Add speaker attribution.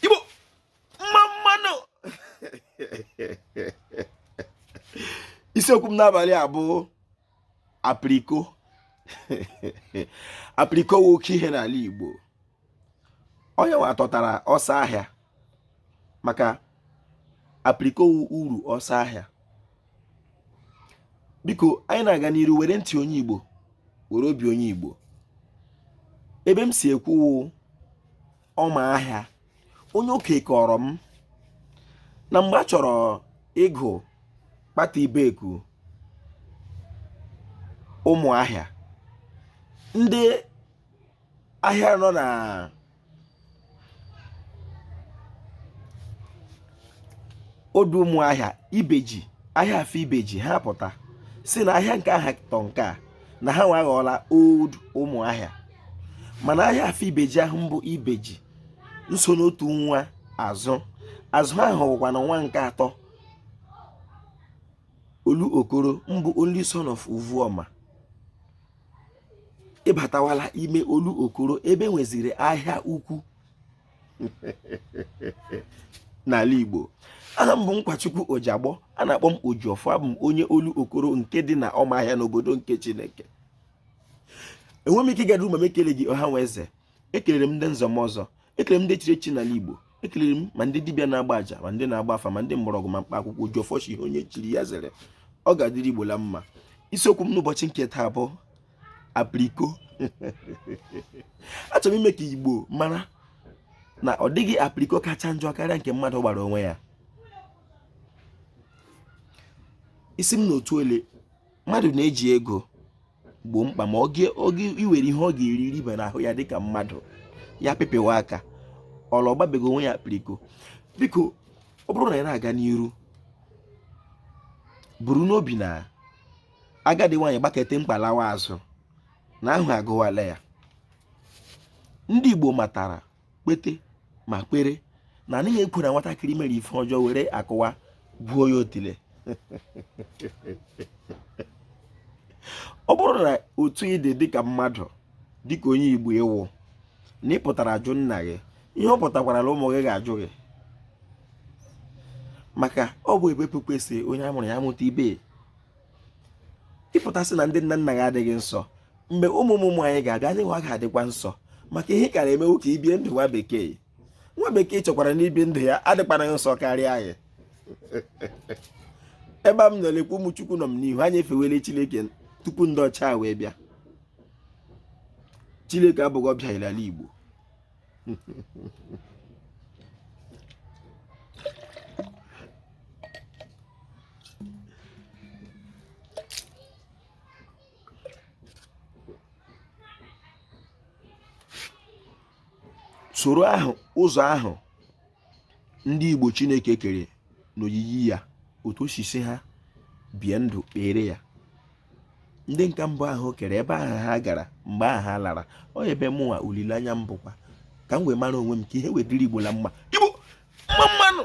Speaker 1: igbo mma mma nụ isiokwu m n'abalị a bụ apiriko apiriko wụ oke ihe n'ala igbo onye nwa tọtara ọsọ ahịa maka apiriko wụ uru ọsọ ahịa biko anyị na-aga n'iru were ntị onye Igbo were obi onye Igbo ebe m si ekwu wụ ọma ahịa onye oke kọrọ m na mgbe a chọrọ ịgụ kpata Ibeku Ụmụahịa ndị ahịa nọ na old Ụmụahịa ibeji ahịa afọ ibeji ha pụta si na ahịa nke aha tọ nke a na ha nwa aghọọla old Ụmụahịa mana ahịa afọ ibeji ahụ mbụ ibeji nso n'otu nwa azụ azụ ahụ wụkwa na nwa nke atọ olu okoro mbụ only son of uvuoma ị batawala ime olu okoro ebe nweziri ahịa ukwu n'ala Igbo aha m bụ Nkwachukwu Ojiagbọ a na-akpọ m Ojiọfọ abụ m onye olu okoro nke dị na ọmahịa n'obodo nke Chineke enwe m ike ịga n'iru ma m ekeleghị ọha nwe eze ekelere m ndị nze na ọzọ ekelere m ndị chiri echi n'ala Igbo ekelere m ma ndị dibịa na-agba aja ma ndị na-agba afa ma ndị mgbọrọgwụ ma mkpa akwụkwọ Ojiọfọ sị ihe onye chiri ya zere ọ ga-adịrị Igbo la mma isiokwu m n'ụbọchị nke taa bụ apriko achọrọ m ime ka Igbo mara na ọ dịghị apriko kacha njọ karịa nke mmadụ gbara onwe ya ị sị m n'otu ole mmadụ na-eji ego gboo mkpa ma oge iwere ihe ọ ga-eri riba n'ahụ ya dịka mmadụ ya pịpịwa aka ọla ọ gbabego onwe ya apiriko biko ọ bụrụ na ị na-aga n'iru buru n'obi na agadi nwaanyị gbakete mkpalawa azụ na ahụ agụwala ya ndị Igbo matara kpete ma kpere na anaghị ekwe na nwatakịrị mere ife ọjọọ were akụwa gwuo ya otile ọ bụrụ na otu ị dị dịka mmadụ dịka onye igbo ị wụ na ị pụtara ajụ nna gị ihe ọ pụtakwara na ụmụ gị ga-ajụ gị maka ọ bụ ebe pụpụ esi onye a mụrụ ya amụta ibe ị pụta sị na ndị nna nna gị adịghị nsọ mgbe ụmụ ụmụ anyị ga-abịa anyị nwa ga-adịkwa nsọ maka ihe kara eme wụ ka e bie ndụ nwa bekee nwa bekee chọkwara na ibi ndụ ya adịkwanụ nsọ karịa anyị ebe a m nọ lekwa ụmụ chukwu nọ m n'ihu anyị efewele chineke tupu ndị ọcha wee bịa chineke abụghị ọbịa n'ala igbo soro ahụ ụzọ ahụ ndị Igbo Chineke kere n'oyiyi ya otu o si sị ha bie ndụ kpere ya ndị nke mbụ ahụ kere ebe ahụ ha gara mgbe ahụ ha lara ọ ebe mụnwa olileanya m bụkwa ka m wee mara onwe m ka ihe wee dịrị Igbo na mma Igbo mma mma nụ